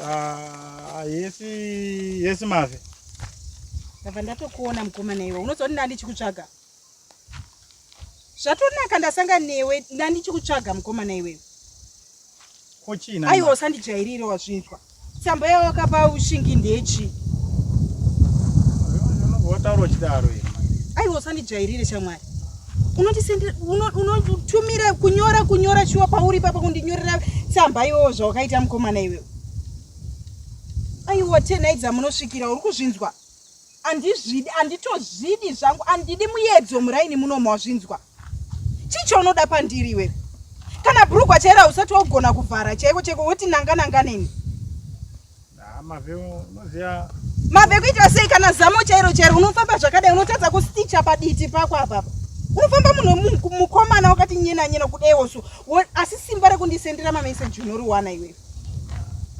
Ah, yesi yesi mave ndabva ndatokuona mukomana iwe unozoona nani chikutsvaga zvatonaka ndasanga newe nani chikutsvaga mukomana iwewe kochina aiwa usandijairire wazvinzwa Tsamba yawakapa ushingi ndechi. Wataura uchidaro here? Aiwa usandijairire shamwari. Unotisendera unotumira uno, kunyora kunyora shuwa pauri papa kundinyorera tsamba iwowo zvawakaita mukomana iwewe. Aiwa tenai dzamunosvikira uri kuzvinzwa. andizvidi anditozvidi zvangu andidi muyedzo muraini muno mawazvinzwa chii chaunoda pandiri iwe kana brugwa chairo hausati waugona kuvhara chaiko chaiko woti nanga nanga neni mave kuita sei kana zamo chairo chairo unofamba zvakadai unotadza kusticha paditi pako apapa unofamba munhu mukomana wakati nyena nyena kudaiwoso asi simba rekundisendera mameseji unoriwana iwewe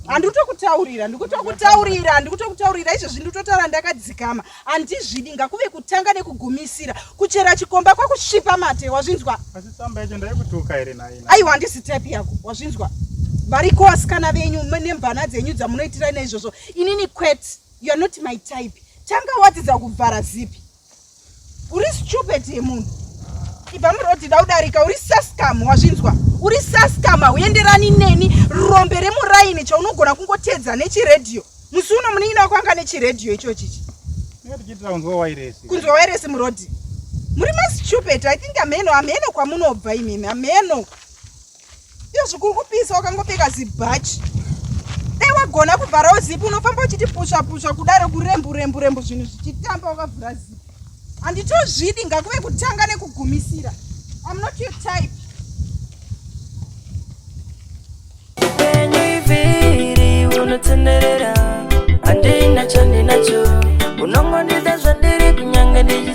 handikutokutaurira ndikutokutaurira handikutokutaurira izvezvi ndikutotara ndakadzikama handizvidi ngakuve kutanga nekugumisira kuchera chikomba kwakusvipa mate wazvinzwa aiwa handisi type yako wazvinzwa variko vasikana venyu nemvana dzenyu dzamunoitira naizvozvo inini quet youare not my type tanga wadzidza kuvhara zipi Uri stupid yemunhu. Ibva muroti da udarika uri saskam wazvinzwa. Uri saskam auenderani neni rombe remuraini chaunogona kungotedza nechiredhiyo. Musi uno munin'ina wako anga nechiredhiyo ichochi ichi. Kunzwa wairesi. Kunzwa wairesi murodi. Muri ma stupid. I think ameno ameno kwamunobva imimi ameno. iyo zvikuru kupisa wakangopfeka zibhachi dai wagona kuvharawo zipi unofamba uchiti pusva pusva kudaro kurembu rembu rembu zvinhu zvichitamba wakavhura zipi handitozvidi ngakuve kutanga nekugumisira I'm not your type. Unotenderera, andina chandi nacho, unongondida zvandiri kunyange ndichi